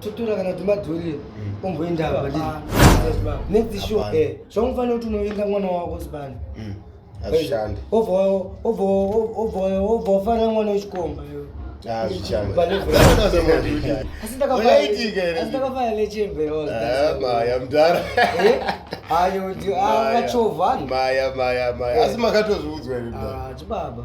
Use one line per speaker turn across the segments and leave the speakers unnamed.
totora kana timadhori omboenda apa ndiri next show eh zvamufanira kuti unovinga mwana wako sibani mm. azvishandi
obva obva
obva obva ufanira mwana wechikomba asi
makatozviudzwa iri ah, chibaba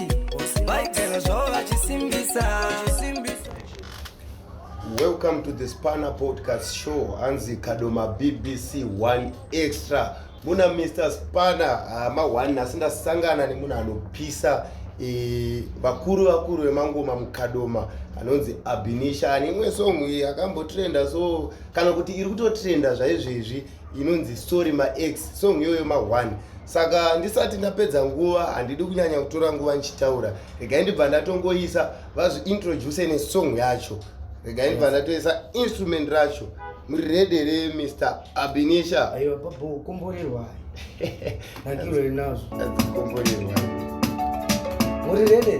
vaigara
zvavo vachisimbisa welcome to the spanner podcast show hanzi kadoma bbc one extra muna mr spanner hama uh, one nhasi ndasangana nemunhu anopisa e, vakuru vakuru vemangoma mukadoma anonzi abinisha ane imwe song iyi akambotrenda so kana kuti iri kutotrenda zvaizvezvi inonzi sorry maex song iyoyo mahwani saka ndisati ndapedza nguva handidi kunyanya kutora nguva ndichitaura regai ndibva ndatongoisa vazviintroduce nesong yacho regai ndibva ndatoisa instrument racho muri rede re mr abinisha aiwa babo
komborerwa nakiro rinazvo komborerwa muri rede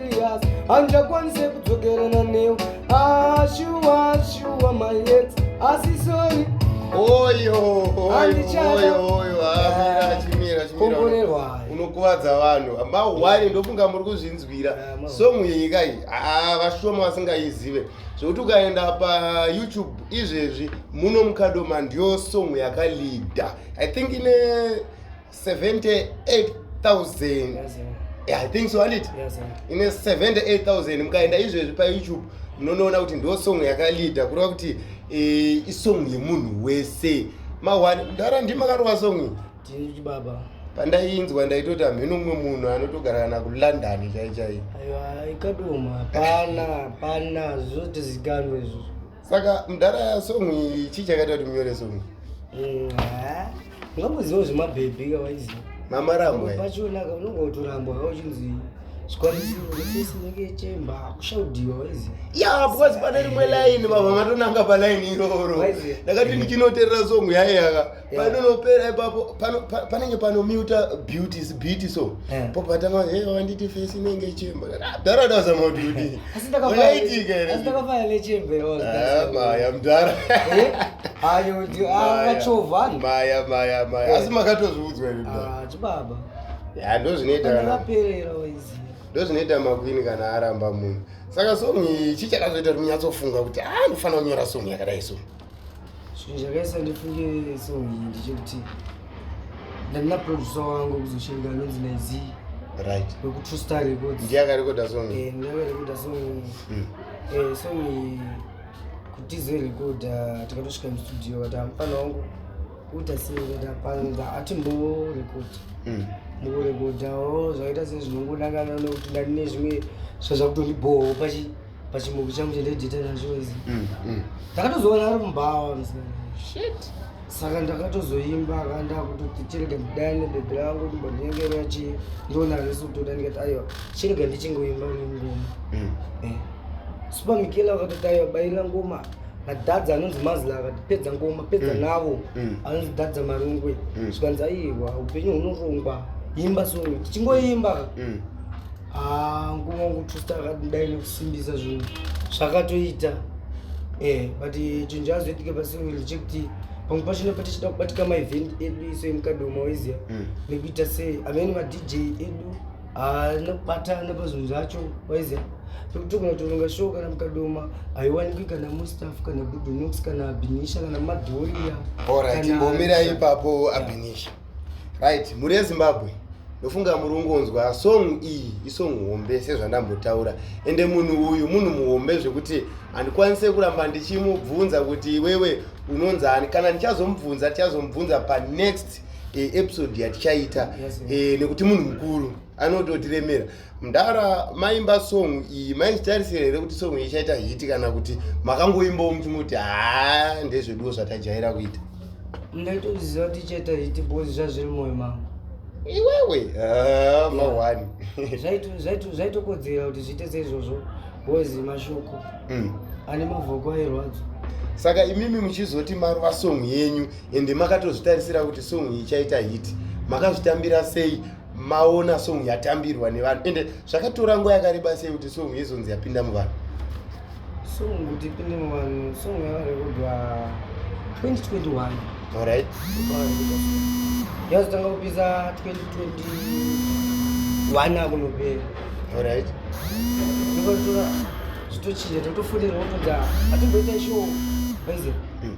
serious handichakwanise kudzokerana newe ashuwa ah, shuwa my ex asi sorry unokuvadza
vanhu mahwani ndofunga muri kuzvinzwira ah, song yenyika iyi ah, vashoma vasingaizive zvekuti ukaenda payoutube izvezvi muno mukadoma ndiyo song yakalida i think ine 78000 Yes, sir. yeah, i think so handiti Yes,
sir. ine 78000
mukaenda izvezvi payoutube munonoona kuti ndo song yakalida kureva kuti eh, isong yemunhu wese mahwani mdara ndi makarova song iyi Tiri chibaba.
pandaiinzwa
ndaitoti hamheno umwe munhu anotogara kana kulondon chaichai Aiwa ikadoma
hapana hapana zvotozikanwa izvozvo. saka mdara
ya song iyi chii chakaita kuti munyore song iyi ungangoziva
zvemabhebhi ka waiziva mama rambo
pachionaka unonga
utorambwa ka uchinzi ya because pane
rimwe line vava matonanga paline iroro ndakati ndichinoterera song yaiya ka panonopera ipapo panenge panomuta beauties beauty so po patanga hey wanditi face inenge chemba dara daza ma beauty asi ndakafaitika ere ndakafaya le chemba yo
ah maya
mdara eh ayo
ndi akachova maya maya maya
asi makatozviudzwa ere ah chibaba
ya ndozvinoita
kana ndaperera
wezi ndozvinoita makwini
kana aramba munhu saka song ichi chakazoita kuti munyatsofunga kuti a ah, ndofanira kunyora song yakadai so zvinhu
zvakaisa ndifunge so iyi ndichekuti ndandina producer wangu kuzoshirika anonzi naizi right
wekutrustar records
ndiye akarekoda song eh,
ndiye akarekoda song
mm. eh, song iyi kutize rekoda tikatosvika mustudio kati amufana wangu kuita sei kati hapana hati mbovo rekoda mm. mbovo rekoda o oh, zvakaita sei zvinongodakana nekuti ndandine zvimwe zvazvakutondiboho pachi pachimuku changu chandaidiita nacho izi mm, mm. ndakatozoona ari mumbawa saka ndakatozoimba akandakuti chirega ndidane bebe rangu ndimbonyengerera chi ndiona resu kutoda ndikati aiwa chirega ndichingoimba nengoma mm. eh. supa mikela vakatoti aiwa baira ngoma nadadza anonzi mazila akati pedza ngoma pedza navo anonzi dadza marungwe zvikanzi aiwa upenyu hunorongwa imba so tichingoimba Ah, nguva wangu trust akadai nekusimbisa zvinhu zvakatoita eh but chinhu chazoitike pasi wili chekuti pamwe pacho nepa tichida kubatika maevent edu iso emukadoma waiziva Mm. nekuita sei amene madj edu ah, nekubatana pazvinhu zvacho waiziva pekuti togona kutoronga show kana mukadoma haiwanikwi kana mustaff kana budunox kana binisha kana madhoria Alright, kana- imbomira
ipapo abinisha right mhuri yezimbabwe ndofunga muri ungonzwa song iyi isong hombe sezvandambotaura ende munhu uyu munhu muhombe zvekuti handikwanise kuramba ndichimubvunza kuti iwewe unonzani kana ndichazomubvunza tichazomubvunza panext eh, episode yatichaita eh, nekuti munhu mukuru anototiremera mdara maimba song iyi maizvitarisira here kuti song iyi ichaita hiti kana kuti makangoimbawo muchimuti haa ndezveduwo zvatajaira kuita ndaitoziva
kuti ichaita hiti bcoz zvazviri moyo mangu iwewe
ah, mawani
zvaitokodzera kuti zviite seizvozvo bcoz mashoko mm. ane mavoko airwadzo saka imimi
muchizoti marova song yenyu ende makatozvitarisira kuti song iyi ichaita hiti makazvitambira sei maona song yatambirwa nevanhu ende zvakatora nguva yakareba sei kuti song yezonzi yapinda muvanhu song
kuti ipinde muvanhu song yakarekodwa 2021 orit yazotanga kupisa 2021 akunopera orit zvakatora zvitochinja totofonera wotoda atimboita show aize hmm.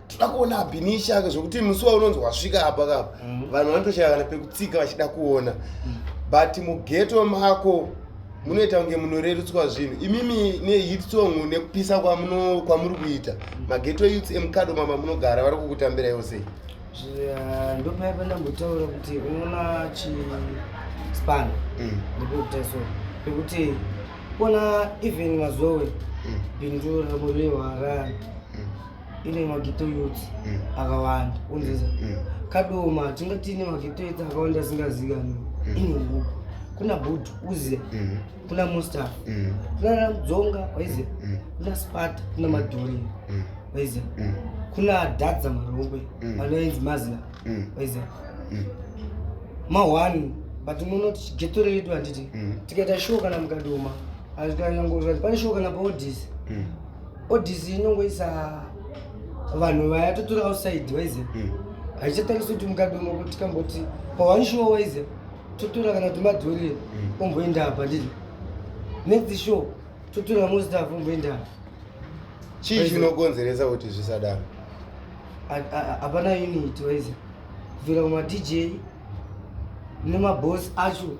toda kuona abinisha zvekuti musi waunonzi wasvika apa kapa mm. vanhu vanotoshaya kana pekutsika vachida kuona mm. but mugeto mako munoita kunge munorerutswa zvinhu imimi nehit song nekupisa kwamuri kuita mm. mageto youths emukado mama munogara vari kukutambira yosei eh,
ndopaya pandambotaura kuti unoona chispan ndikutaso pekuti kuona even mazowe bindu ramurewa rani ine mageto youth mm. akawanda unzeza mm. kadoma tinga tiine mageto youth akawanda asingazikanwi mm. ine huku kuna bud uze kuna mustaf kuna mdzonga waize kuna spata kuna madhuri waize kuna dadza marongwe anoenzi mazina waize mahwani but muno tichigeto redu handiti tikaita show kana mukadoma azvikanyangoa pane show kana paodisi odisi inongoisa vanhu vaya totori outside waize hmm. haichatarisi kuti mukadzi umwe kuti kamboti paone show waize totora kana kuti madhori hmm. omboenda apa ndii next show totora mustaf omboenda apa chii
chinokonzeresa kuti zvisadaro
hapana unit waize kubvira kumadj nemabos acho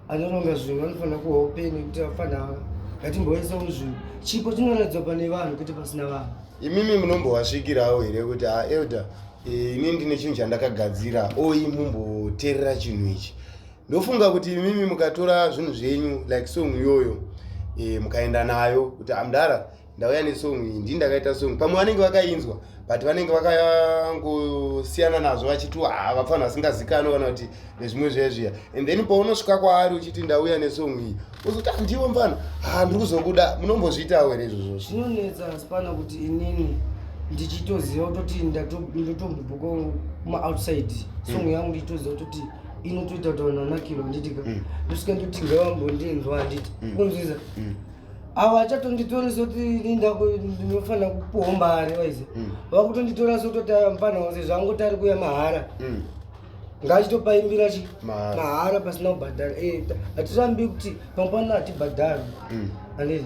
anoronga zvinhu vanofanira kuva upenyu kuti vafana ava ngatimboisa muzvinhu chipo chinoratidzwa pane vanhu kuti pasina vanhu imimi
munombovasvikirawo here kuti ha ah, elder eh, ini ndine chinhu chandakagadzira oyi mumboterera chinhu ichi ndofunga kuti imimi mukatora zvinhu zvenyu like song iyoyo eh, mukaenda nayo kuti amdara ah, ndauya nesong iyi ndii ndakaita song pamwe vanenge vakainzwa but vanenge vakangosiyana nazvo vachiti haa vapfanhu vasingazikani kana kuti nezvimwe zviya zviya and then paunosvika kwaari uchiti ndauya nesong iyi uzoti handiwo ah, mfana haa ah, ndiri kuzokuda munombozviitawo here izvozvo zvinonetsa asipana
kuti inini ndichitoziva kutoti ndotombobuka kumaoutside song mm. yangu ndichitoziva kutoti inotoita kuti vanhu vanakirwa handitika mm. ndosvika ndoti ngavambondinzwa handiti mm. kunzwiza avo achatonditori soti linda ndinofanira kupuwa mari waize mm. vakutonditora sototi mfanha wose zvangoti ari kuya mahara mm. ngaachitopaimbira chi mahara pasina kubhadhara eh, hatirambi kuti pamupano hatibhadhari mm. andii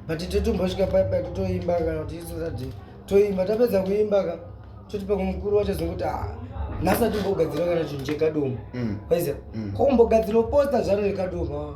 but totombosvika pai pai totoimba kana kuti isoradi toimba tapedza kuimba ka toti pamwe mukuru wacho zvokuti ah, nhasi atimbogadzira kana chinhu chekadomo waize kombogadzira posta zvaro rekadomo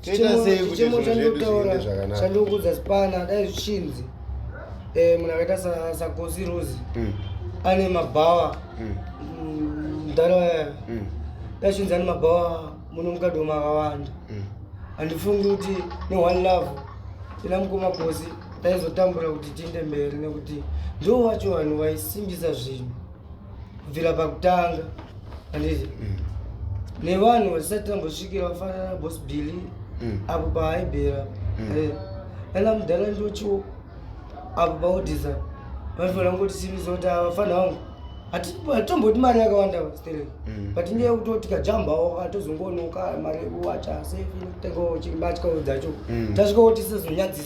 chichemo
chandotaura chandokudza spana dai zvichinzi eh, munhu akaita sagosi rose hmm. ane mabhawa hmm. mm, mdhara waya hmm. dai zvichinzi ane mabhawa muno mukadoma akawanda handifungi kuti neone love ina mukoma gosi taizotambura kuti tiende mberi nekuti ndo wacho vanhu vaisimbisa zvinhu kubvira pakutanga handizi mm. nevanhu vasisati tambosvikira vafanana nabos billy mm. apo paaibhera mm. ana mudhara ndochiwo apo paodisa vanofanira kungoti simisa kuti avafana vangu hatomboti mari yakawanda stere but nyaya yekuti tikajambawo atozongonoka mari yekuwacha sefikutengawo chimbatyawo dzacho tasvika kuti sezonyadzisa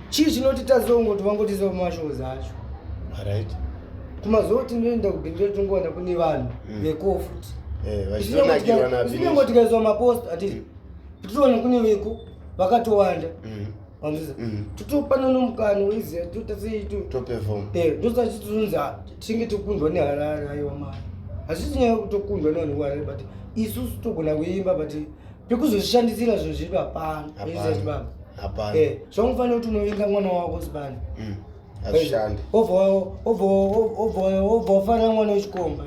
chii chinoti tazongoti vangotiza kumashows acho right kumazuva tinoenda kubhindira tingowana kune vanhu mm. veko futi zvinyangotikaiswa eh, mapost atiri mm. titoona kune veko vakatowanda mm. wanzisa totopana nomukano weiziva totasitotozonzi eh, tinge tokundwa neharare aiwa mari hazvisi nyaya kutokundwa nevanhu kuharare but isusu togona kuimba but pekuzozvishandisira zvinhu zvedu hapana baba hapana eh, zvamufanira kuti unovenga mwana wako zibani mm, hazvishandi obva wafanira mwana wechikomba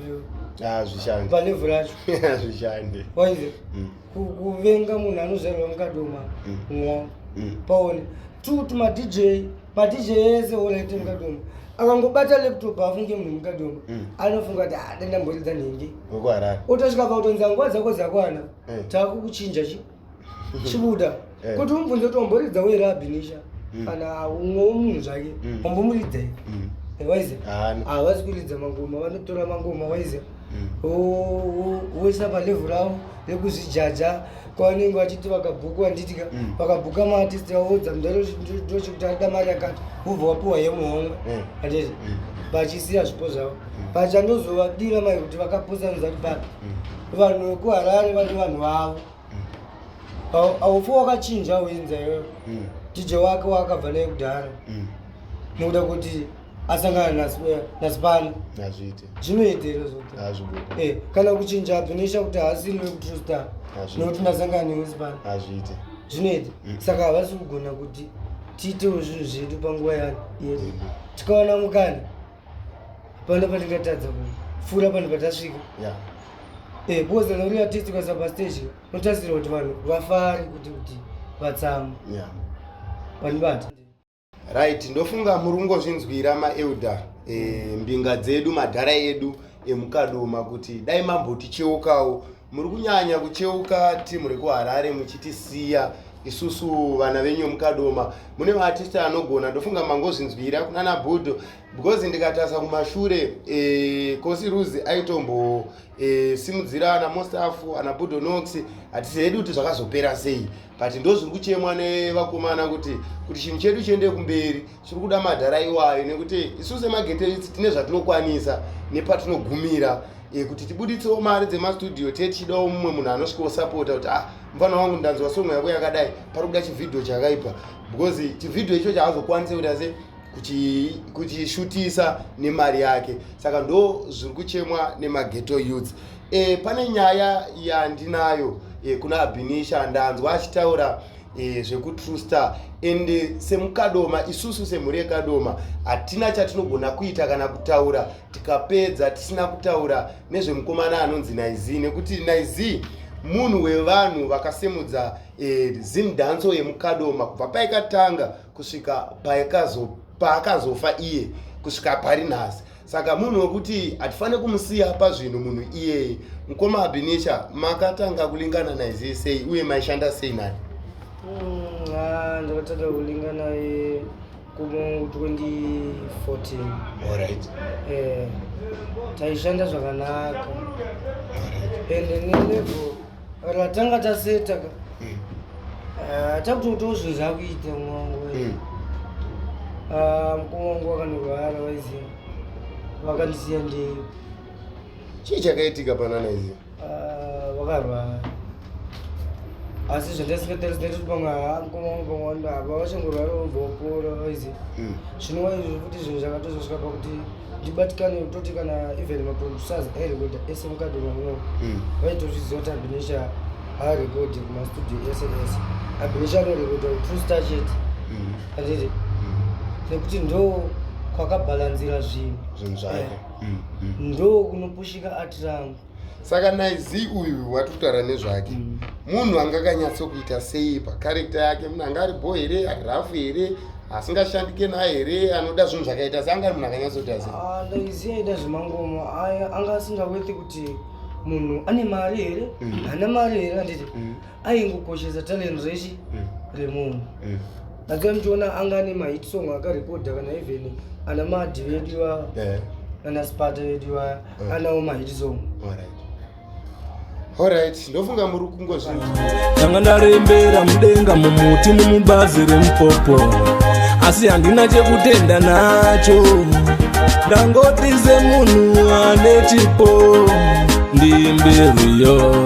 hazvishandi palevhu racho hazvishandi waize mm. kuvenga munhu anozvarirwa mukadoma mm. mwa paone two to madj madj ese olaite mukadoma akangobata laptop afunge munhu mukadoma anofunga kuti adandamboridza nhingi otasvika pakutonzi anguva dzako dzakwana eh. takukuchinja chi chibuda eh. kuti umubvunze kuti wamboridza were abinisha mm. kana umwewo munhu zvake mm. wambomuridza i mm. eh, waize havazi kuridza mangoma vanotora mangoma waize woisa palevhu ravo rekuzvijaja kwavanenge vachiti vakabhuku vanditika vakabhuka maartisti vaodza mndarochikuti arida mari yakati vobva wapiwa yemuhomwe anditi vachisiya zvipo zvavo but chandozovadira mai kuti vakapusa nzati papi vanhu vekuharare vane vanhu vavo haufi wakachinja uinza iyoyo mm. tije wake waakabva naye kudhara mm. nokuda kuti asangana nasipani zvinoita iro zvote kana kuchinja abvinisha kuti haasiri vekutrustar nokuti ndasangana newe sipani zvinoita mm. saka havasi kugona kuti tiitewo zvinhu zvedu panguva yedu tikaona mukana pano patingatadza kupfuura pano patasvika yeah. eh, because kana uri artist ukasa pastage unotarisirwa kuti vanhu vafari kuti kuti vatsamu yeah. vanibata
right ndofunga muri kungozvinzwira maelder eh, mbinga dzedu madhara edu emukadoma kuti dai mamboticheukawo Muri kunyanya kucheuka team rekuHarare muchitisiya isusu vana venyu mukadoma mune maartist anogona ndofunga mangozvinzwira kunana budo because ndikatasa kumashure e, kosi ruzi aitombo e, simudzira ana mostafu ana budo nox hatisi hedu kuti zvakazopera sei but ndozviri kuchemwa nevakomana kuti kuti chinhu chedu chiende kumberi tiri kuda madhara iwayo nekuti isu semageteits tine zvatinokwanisa nepatinogumira e, kuti tibuditsewo mari dzemastudio te tichidawo mumwe munhu anosvikawo sapota kuti ah mfana wangu ndanzwa songo yako yakadai pari kuda chivhidhio chakaipa because chivhidhio icho chaazokwanise kuti ase kuchishutisa nemari yake saka ndo zviri kuchemwa nemageto youths e, pane nyaya yandinayo e, kuna abinisha ndanzwa achitaura e, zvekutrue star and eh, semukadoma isusu semhuri yekadoma hatina chatinogona kuita kana kutaura tikapedza tisina kutaura nezvemukomana anonzi naizi nekuti naizi munhu wevanhu vakasimudza e, eh, zimdanso yemukadoma kubva paikatanga kusvika paakazofa iye kusvika pari nhasi saka munhu wekuti hatifane kumusiya pazvinhu munhu iyeye mukoma abinisha makatanga kulingana naye zii sei uye maishanda sei naye mm, ah,
ndakatanga kulinga naye kumu 2014 orit
eh,
taishanda zvakanaka ende nelevo Kana tanga taseta ka. Mm. Ah, takutoitawo zvinhu zvakuita mwangu. Mm. Ah, mukoma wangu wakanorwara waizi vakandisiya ndei.
Chii chakaitika panana izi? Ah,
vakarwara. asi zvandasingatarisa kuti pamwe haamukoma wangu pamwe wandava vachangorwara vobva vapora vaizi mm. zvinowa izvi futi zvinhu zvakatozosvika pakuti ndibatikane kutoti kana even maproducers airekoda ese mukadimamwo hmm. vaitozviziva kuti abinesha haarekodi kumastudio ese ese abinesha anorekoda true star chete hmm. anditi hmm. nekuti ndo kwakabhalanzira zvinhu zvinhu zvake eh.
ndo
kunopushika ati rangu saka naye
zii uyu wati kutaura nezvake mm. munhu anga akanyatsokuita sei pacharekta yake munhu anga ari bho here ari rafu here asingashandike naye here anoda zvinhu zvakaita se anga ari munhu akanyatsokuita sei ah, laizi aida
zvemangomo anga asingaweti kuti munhu ane mari here mm. haana mari here anditi mm. aingokoshesa talent rechi mm. remunhu mm. that's why muchiona anga ane mahit song akarekodha kana even ana madhi vedu ivava eh. ana spata vedu ivaya mm. anawo mahit song Alright,
ndofunga muri kungozvinzwa. Ndanga
ndarembera mudenga mumuti mumubazi remupopo asi handina chekutenda nacho ndangoti semunhu ane chipo ndimberiyo